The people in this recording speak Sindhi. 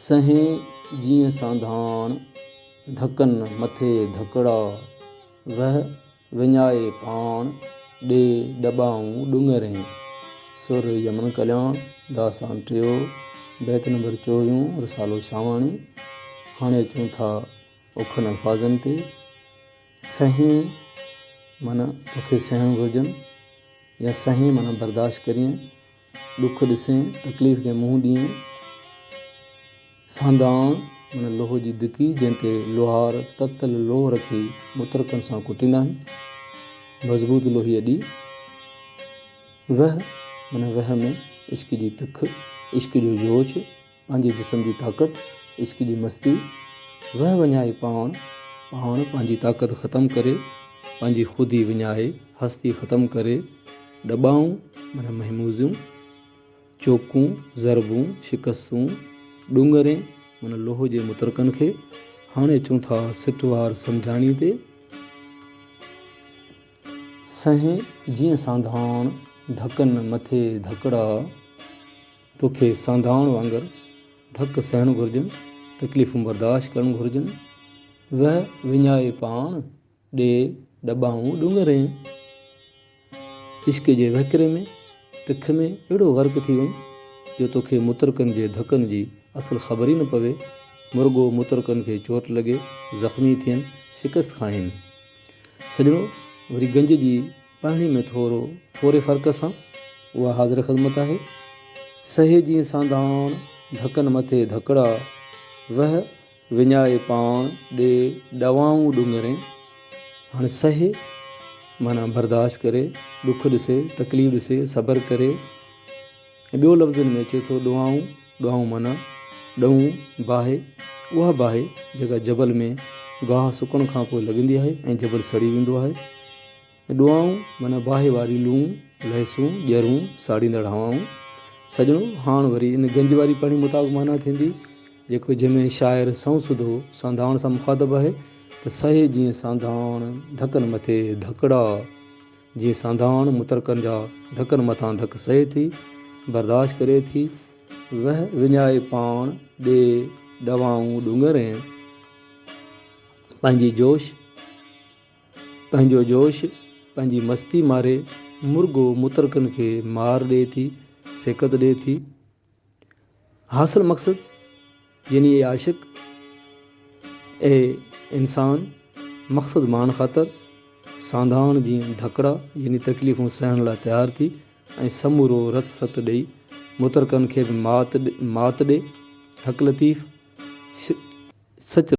سنهين جيئن سانڌاڻ ڌڪن مٿي ڌڪڙا، وهه وڃائي پاڻ ڏي ڏٻائون ڏونگرين. سر يمن ڪلياڻ، داستان ٽيون، بيت نمبر چوويهون، رسالو شاهواڻي. هاڻي اچون ٿا اوکن الفاظن تي. سنهين معنيٰ توکي سهڻ گهرجن يا سنهين معنيٰ برداشت ڪرين. ڏک ڏسين، تڪليف کي منهن ڏيئين. سانڌاڻ معنيٰ لوهه جي دڪي، جنهن تي لوهار تتل لوهه رکي مترڪن سان ڪٽيندا آهن. مضبوط لوهي اڏي. وهه معنيٰ وهه ۾ عشق جي تک، عشق جو جوش. پنهنجي جسم جي طاقت، عشق جي مستي، وهه وڃائي پاڻ، پاڻ پنهنجي طاقت ختم ڪري، پنهنجي خودي وڃائي، هستي ختم ڪري، ڏٻائون معنيٰ مهموزيون، چوڪون، ضربون، شڪستون، ڏونگرين معنيٰ لوهه جي مترڪن کي، هاڻي اچون ٿا سٽ وار سمجهاڻي تي، سنهي جيئن سانڌاڻ، ڌڪن مٿي ڌڪڙا. توکي سانڌاڻ وانگر ڌڪ سهڻ گهرجن، تڪليفون برداشت ڪرڻ گهرجن، وهه وڃائي پاڻ ڏي ڏٻائون ڏونگرين. عشق جي وهڪري ۾ تک ۾ اهڙو غرق ٿي وڃ جو توکي مترڪن جي ڌڪن جي اصل خبر ئي نه پوي، مرڳو مترڪن کي چوٽ لڳي، زخمي ٿين، شڪست کائين. سڄڻو وري گنج جي. پهڻي ۾ ٿورو ٿوري فرق سان اها حاضر خدمت آهي. سهي جيئن سانڌاڻ، ڌڪن مٿي ڌڪڙا، وهه وڃائي پاڻ ڏي ڏوائون ڏونگرين. هاڻي سهي معنيٰ برداشت ڪري، ڏک ڏسي، تڪليف ڏسي، صبر ڪري ۽ ٻيو لفظن ۾ اچي ٿو ڏوائون، ڏوائون معنيٰ ڏئون، باهه، اها باهه جيڪا جبل ۾ گاهه سڪڻ کانپوء لڳندي آهي ۽ جبل سڙي ويندو آهي. اي ڏوئائون معنيٰ باهه واري لون، لهسون، ڄرون، ساڙيندڙ هوائون. سڄڻو! هاڻ وري ان گنج واري پڙهڻي مطابق معنيٰ ٿيندي، جيڪو جنهن ۾ شاعر سنئون سڌو سانڌاڻ سان مخاطب آهي ته سهي جيئن سانڌاڻ ڌڪن مٿي ڌڪڙا، جيئن سانڌاڻ مترڪن جا ڌڪن مٿان ڌڪ سهي ٿي، برداشت ڪري ٿي، وهه وڃائي پاڻ ڏي ڏوائون ڏونگر ۽ پنهنجي جوش، پنهنجو جوش، پنهنجي مستي ماري مرغو مترڪن کي مار ڏئي ٿي، سيڪت ڏئي ٿي. حاصل مقصد يعني اي عاشق، اي انسان، مقصد ماڻڻ خاطر سانڌاڻ جيئن ڌڪڙا يعني تڪليفون سهڻ لاء تيار ٿي ۽ سمورو رت ست ڏئي مترڪن کي به مات ڏي. حق لطيف سچ.